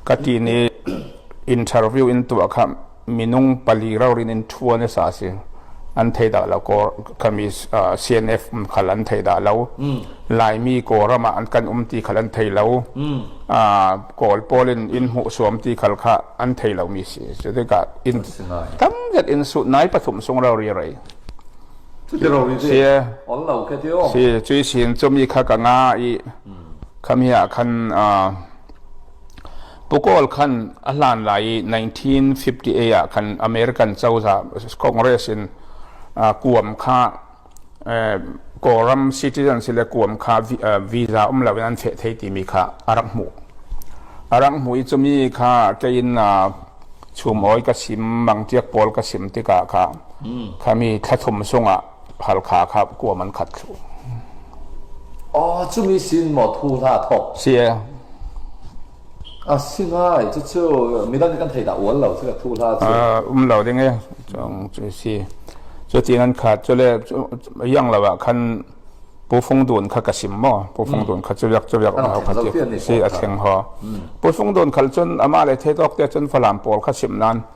Ka ti nih interview in tuah kha minung pali ralrin in ṭhuan a sa a si. An thei dah lo. Kami CNF khal an thei dah lo. Laimi Kawlram ah an kan um ti khal an thei lo. Kawl pawl in inn hmuhsuam ti khal kha an thei lomi si. Cu tikah inn tam zet in sut nai pathum sung ralri rei. Si. Cuti rori cu all lo ka ti o. Si. Cui sin cumi kha ka nga i Kham hi ah khan Pukawl khan a hlan lai i 1958 ah khan American cozah Congress in kuam kha Kawlram citizens le kuam kha visa um lo in an feh thei timi kha a rak hmuh. A rak hmuh i cumi kha kein chum oi ka sim, mangtiak pawl ka sim tikah kha khami thlathum sungah Phalkha kha kuam an khat thlu. Oh, cumi sin maw thu hna thok. Sie. A singai, cu cu midan kan thei da ual lo, cu ka thu hla cu. Um lo ding e, cung cu si. Cu tin an khat, cu le yang la wa khan pu fung dun kha ka sim mo, pu fung dun kha cu lek cu lek ho kha si a theng ho. Pu fung dun khal cun ama le thei tok te cun falam pawl kha sim nan.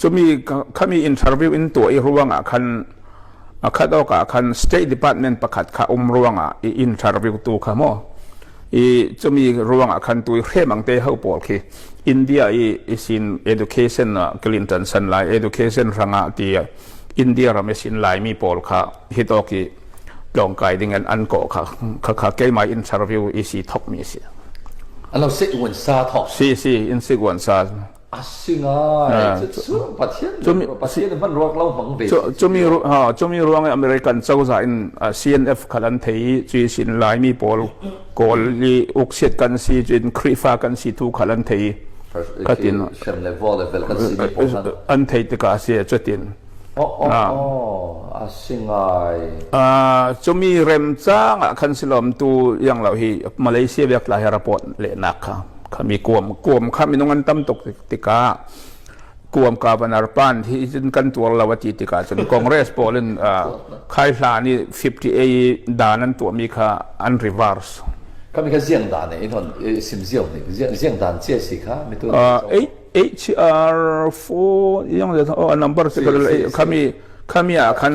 Cumi khami interview in tuah i ruangah khan akhat awkah khan State Department pakhat kha um ruangah i interview tu kha maw i cumi ruangah khan tu i hremang te ho pawl khi India i isin education Clinton san lai education rangah ti India ram isin laimi pawl kha hitawk i tlawngkai ding an an kawh kha kha kha keimah interview isi thokmi si. Alo si uan sa thok. Si si in si uan sa. a si ngai cu pathian pathian hman ruak lo bang ve cumi ha cumi ruang american cozah in CNF khan an thei cui sin laimi pawl kawl i uksiat kan si cun khrifa kan si tu khan an thei katin an thei tika si cutin oh oh oh a si ngai a cumi rem cang khan silom tu yang lo hi malaysia biak la report le nak kha kham i kuam kuam kha minung an tam tuk tikah kuam governor pan hi cun kan tuar lo a ti tikah cun congress pawl in khai hla ni 58 dan an tuahmi kha an reverse kami ka ziang dan ne inon sim ziang ne ziang dan che si kha mitu HR4 yang oh number kami kami kami ah khan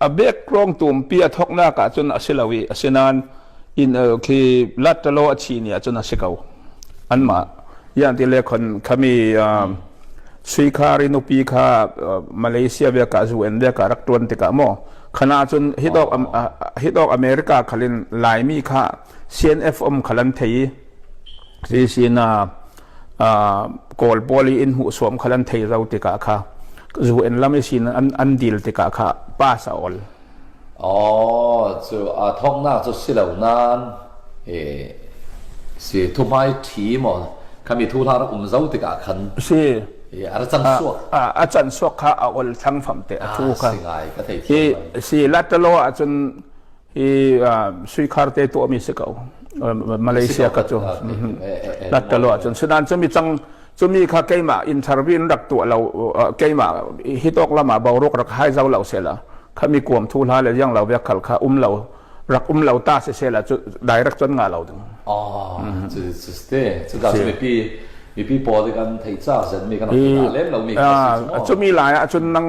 a background tumpi a thoknak ahcun a si lo i asinain inn el khi lattalo a chi ni ahcun a si ko anmah yang ti le khon khami um, suikhar i nupi kha uh, malaysia ve ka zu en ve ka rak tuan tikah mo khana cun hidok hidok america khalin laimi kha CNF um kha an thei i hi sin ah kawl pawl i inn hmuhsuam kha an thei ro tikah kha zu in lam i sin an an dil tikah kha pass a ol oh cu a thongnak cu si lo nan e si thu mai thi mo kami thu la um zo tikah khan si e ar chang suak a chan suak kha a ol thang fam te a thu kha si ngai ka thei hi si latalo a chun i suikhar te tuahmi si ko malaysia ka cu nattalo ahcun sudan cumi cang cumi kha keimah interview in rak tuah lo keimah hitok lama boruk rak hai zau lo sela khami kuam thu hla le yang lo vek khal kha um lo rak um lo ta se sela cu direct cun nga lo ding oh cu cu ste cu ka mi pi mi pi pawl kan thei cha zen mi kan lem lo mi cumi lai ahcun nang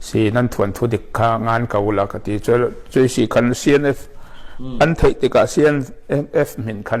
si nan thuan thu dik kha ngan ko la ka ti cu cuai si khan CNF an theih tikah CNF min khan